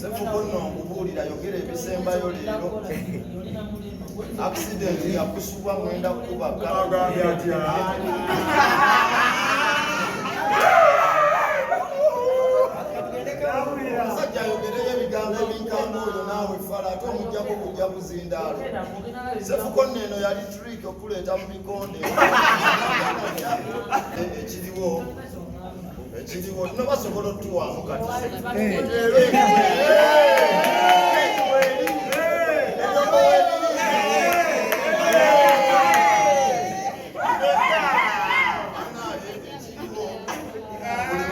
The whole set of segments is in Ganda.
Sefuko nno nkubuulira yogera ebisembayo leero akisidenti yakusubwa mwenda kukuba omusajja ayogereyo ebigambo ebinkanga oyo naawe fala ate omujjako kujja kuzindaalo sefuko nno eno yali trik okuleeta mu bikonde ekiriwo ekiriwo no basobola otuwaamu kati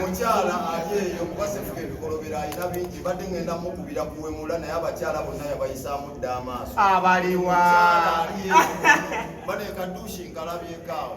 mukyala ali eyo kuba sefuka ebikolobero alina bingi badde ngenda mukubira kuwemula naye abakyala bonna yabayisaamu dda amaaso abaliwa bane kadushi nkalabyekaawo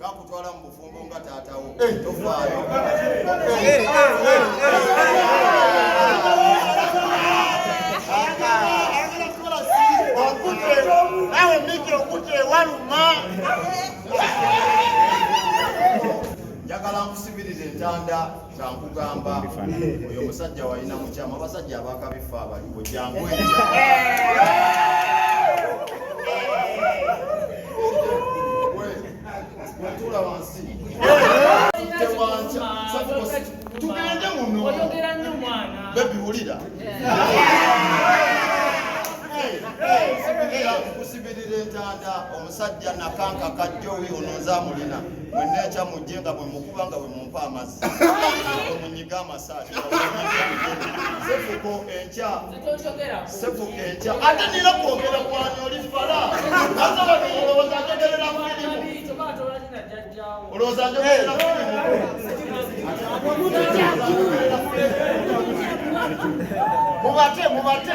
gakutwala mu bufumbo nga taatawo eh. tofaayo eh. nawe miki okute waluma njagala nkusibiriza entanda kankugamba oyo musajja walina mukyama abasajja abakabifa abaliwo jangu wetula wansi tugende muno bebi wulira kusibirira entanda omusajja nakanka kajjowi ono nzamulina mwenna ekya mujje nga bwe mukuba nga bwe omukuba amazzi omunyiga amasaati sefuko enkya sefuko enkya ate nina kwogera kwani oli fala aza wano olowooza njogerera firimu olowooza njogerera firimu mubate mubate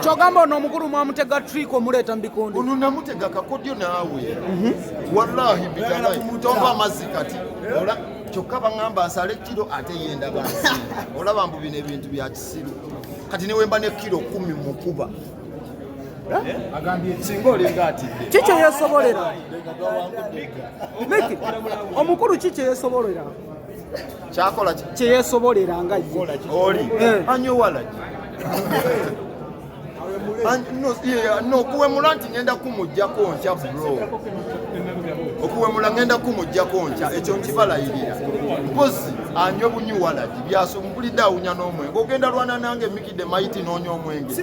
kyogamba ono omukulu mwamutega trik omuleeta mubikondo ono namutega kakodyo naawe mhm. wallahi bitonga amazzi kati kyokka baŋamba asale kiro ate yenda bansi olaba mbu bino ebintu bya kisiru kati newemba ne kiro kumi mukuba kikyo yesobolera omukulu kikyo yesobolera kyakola kyeyesobolera nga oli eh. anyowalaki okuwemula nti ngenda kumujjako nkya bro okuwemula ngenda kumujjako nkya ekyo nkibalayirira mpozi anywe bunyi walagi byasompulidde awunya n'omwenge ogenda lwana nange mikide mayiti noonya omwenge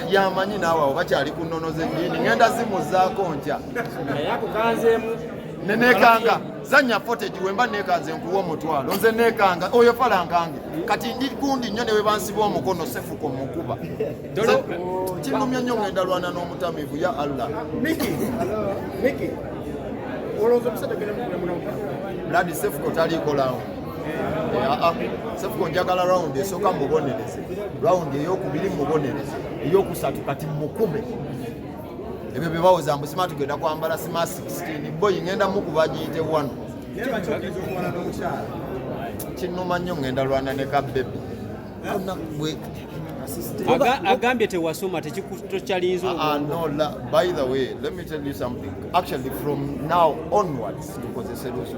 yamanyi naawe awo bakyali ku nnono z'eddiini ngenda zimuzaako nkya ne nekanga zanya footage wemba nekanze nkuwa omutwalo nze nekanga oyo falankange kati ndi gundi nnyo newe bansiba omukono sefuko mukuba kinumya nnyo ngenda lwana n'omutamivu ya allah ladi sefuko taliiko lawo eh, ah, ah. sefuko njagala rawundi esooka mubonereze rawundi eyokubiri mubonereze eyokusatu kati mukume ebyo byebawoza mbu sima tugenda kwambala sima 16 boyi ngenda mukuba giyite wano kinuma nnyo ngenda lwana ne ka bebi agambye tewasoma tekikyalinza ah, ah, no la by the way let me tell you something actually from now onwards tukozese lusu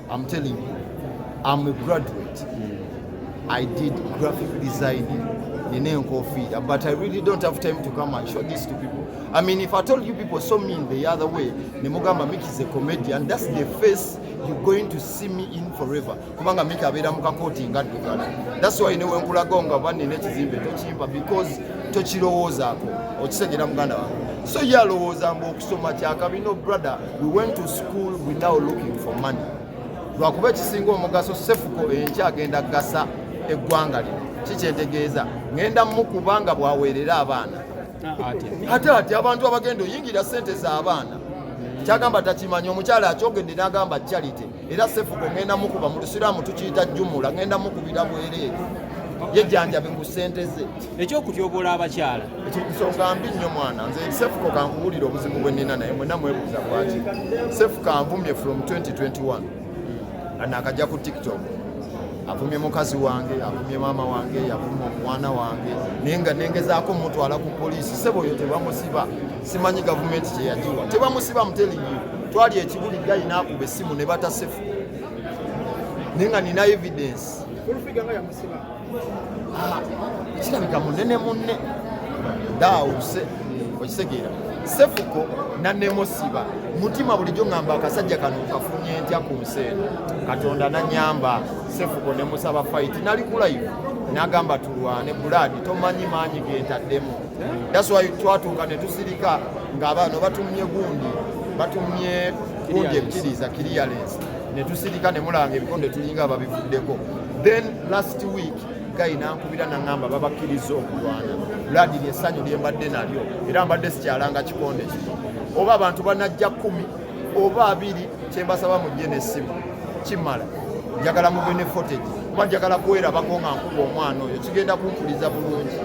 I'm telling you, I'm a graduate. Mm. I did graphic design in Enkofi, but I really don't have time to come and show this to people. I mean, if I told you people saw me in the other way, Nemugamba Miki is a comedian, that's the face you're going to see me in forever. Kumanga Miki abera mukakoti ngadugala. That's why newe nkulagonga bani nekizimbe tochimba because tochirowoza ako. Ochitegera muganda wange. So yalowooza mbu okusoma kyakabi no brother. We went to school without looking for money. Lwakuba ekisinga omugaso sefuko enkya agenda gasa eggwanga lino kikyentegeeza ngenda mukuba nga bwaweerera abaana ate ati abantu abagenda oyingira sente z'abaana kyagamba takimanyi omukyala akyogedde n'agamba charity era sefuko ngenda mukuba mu lusiraamu tukiyita jumula ngenda mukubira bwereere yejanjabe ku sente ze ekyokutyobola abakyala nsonga mbi nnyo mwana nze sefuko kankubulira obuzibu bwe nina naye mwena mwebuuza lwaki sefuko anvumye from 2021 nga nakajja ku tiktok avumye mukazi wange avumye maama wange yavuma omwana wange naye nga nengezaako mutwala ku poliisi sebo oyo tebamusiba simanyi gavumenti kyeyagiwa tebamusiba mutelingi twali ekibuli gayi nakuba essimu ne batasefu naye nga nina evidence ah, kirabika munene munne daawuse okitegeera sefuko nanemusiba mutima bulijjo ngamba akasajja kano kafunye ntya ku nsi eno katonda nanyamba sefuko nemusaba fayiti nali kulayivu nagamba tulwane bulaadi tomanyi maanyi gentaddemu That's why twatuuka ne tusirika ng'abaana batumye gundi batumye gundi ebitiriza clearance ne tusirika ne mulanga ebikonde tulinga ababivuddeko then last week guy nankubira nangamba babakkiriza okulwana ladi lyesanyu lyembadde nalyo era mbadde sikyalanga kikonde kino oba abantu banajja kumi oba abiri kyembasaba mujje nesimu kimala njagala mube ne footage kuba njagala kwerabako nga nkuba omwana oyo kigenda kumpuliza bulungi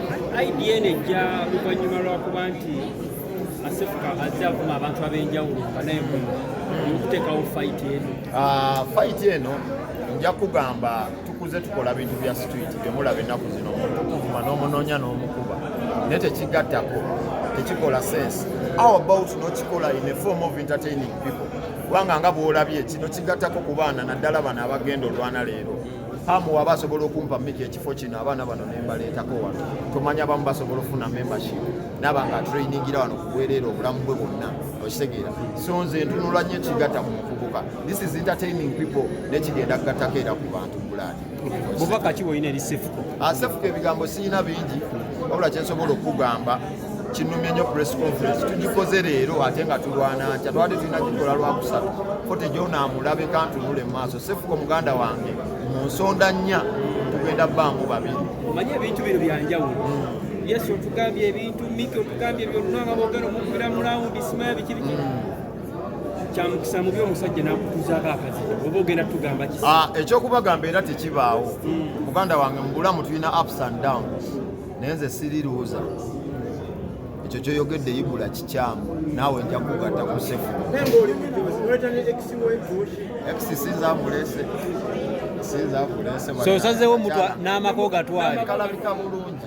idn ejja luvannyuma lwakuba nti asefuka azze avuma abantu ab'enjawulo nga naye muno okuteekawo fayiti eno ah, fayiti eno nja kugamba tukuze tukola bintu bya street byemulaba ennaku zino omuntu kuvuma n'omunoonya n'omukuba naye tekigattako tekikola sense how about nokikola in a form of entertaining people kubanga nga bwolabye kino kigattako ku baana naddala bano abagenda olwana leero hamu waba asobola okumpa miki ekifo kino abaana bano nembaleetako wano tomanya bamu basobola ofuna membership naba nga trainingira wano kubwereera obulamu bwe bwonna okitegeera so nze ntunula nyo ekigatta mu mukuguka This is entertaining people nekigenda kugattako era ku bantu bulaani bubaka ki bwolina eri sefuko ah, sefuko ebigambo siyina bingi wabula kyensobola okukugamba kinumye nyo press conference tugikoze leero ate nga tulwana ntya twali tulina gikola lwakusatu fote gyonaamulabe kantunule mu maaso sefuko muganda wange mu nsonda nnya tugenda bangu babiri omanye ebintu bino byanjawulo hmm. yesu otugambye ebintu miki otugambye byonna nga bogera omukubira mulawundi simayo bikibiki hmm. kyamukisa mubi omusajja nakutuzaako akazito oba ogenda tugamba ki ah, ekyokubagamba era tekibaawo hmm. muganda wange mubulamu tulina ups and downs naye nze siriruuza ekyo kyoyogedde ibula kikyamu naawe nja kugatta ku sefu ekisisinza amulese sinza amulese sosazewo mutwa n'amaka ogatwale kalabika bulungi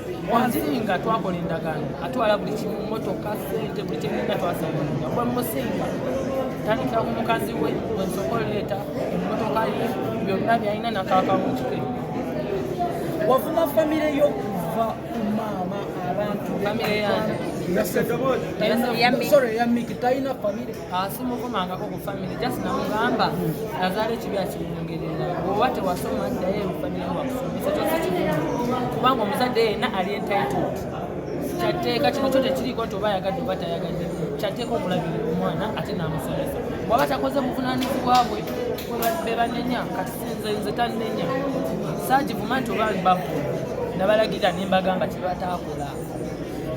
wansinga twakola endagaano atwala buli kimu motoka sente buli kyenina twasaanga kuba musinga tandikira ku mukazi we wensoka oleeta emotoka ye byonna byalina nakaaka mu kike wavuma famire yo kuva ku maama abantu famire yange talina famire simukomangako ku famire just namugamba nazaala ekibi akiwongerera oba tewasoma ddayo ebufamire wakusomesa kyose kimu kubanga omuzadde yenna ali entitled kyatteeka kino kyo tekiriiko nti oba ayagadde oba tayagadde kyatteeka okulabirira omwana ate namusomesa bwaba takoze buvunanyizibwa bwe bebanenya kati sinze nze tannenya saagivuma nti oba babu nabalagira nembagamba kyebataakola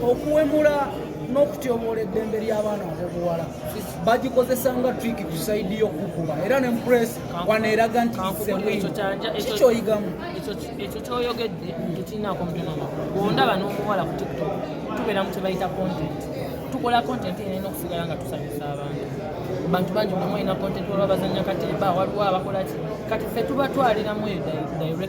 okuwemula n'okutyoboola eddembe ly'abaana ab'obuwala bagikozesa nga trik ku saidi y'okukuba era ne mpress wano eraga nti kikyoyigamu ekyo kyoyogedde tekirinako mutonama bwondaba n'omuwala ku tiktok tubeera mu kyebayita content tukola content ena ena okusigala nga tusanyusa abantu bantu bangi bulamu olina content olwa bazanya katemba waliwo abakolaki kati fe tuba twaliramu eyo direction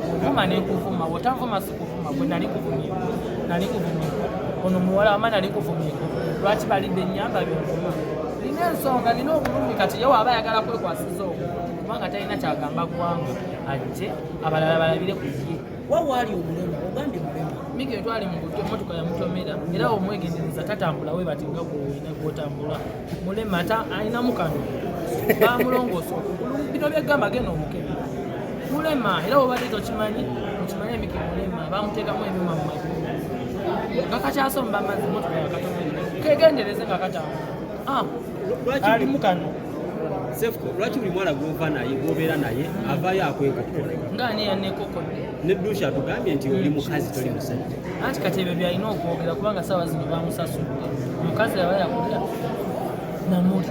kuvuma nekuvuma wotavuma sikuvuma gwe nali kuvumye nali kuvumye ono muwala wama nali kuvumye lwaki balidde enyamba byovuma lina ensonga lina obulumi kati ye waaba ayagala kwekwasiza oku kubanga talina kyagamba gwanga ajje abalala balabire kuye wawaali omulema ogambye mulema mika etwali mukuto emotoka yamutomera era omwegendereza tatambula webatinga gwowina gwotambula mulema ate alinamu kano bamulongoosa okugulu bino byegamba genda omukebe mulema era obadde tokimanyi okimanyi emiki mulema bamuteekamu ebyuma mu magulu nga kakyasomba amazzi motoka yakatomerera kegendereze nga katamba ah, alimu kano lwaki buli mwana gwova naye gwobeera naye avayo akwekokkola nga ani yanekokodde ne dusha atugambye nti oli mukazi toli musajja anti kati ebyo byalina okwogera kubanga saawa zino bamusasudde omukazi yaba yakulya namuli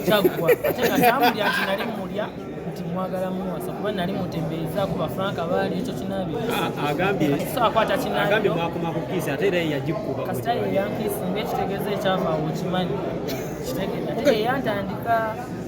kyaggwa ate nga tamulya nti nali mulya nti mwagala muwasa kuba nali mutembeeza ku bafranka baali ekyo kinabiagambye mwakoma ku kiisi ate era yeyagikuba kasita yeyankiisi ngaekitegeeza ekyavaawo okimanyi kitegeza eyantandika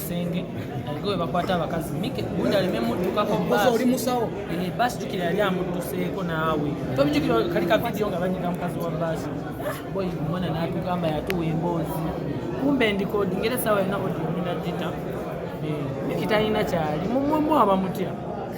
senge aliga we bakwata abakazi mike gundi aleme muddukako oli musawo eh, baasi jukira yali amudduseeko naawe tobijukira kali ka vidiyo nga banyiga mukazi wa baasi boyi omwana natugamba yatuwa emboozi kumbe ndikodi ngere esawa yona odiomina gita eh, mikitalina kyali mumwemu abamutya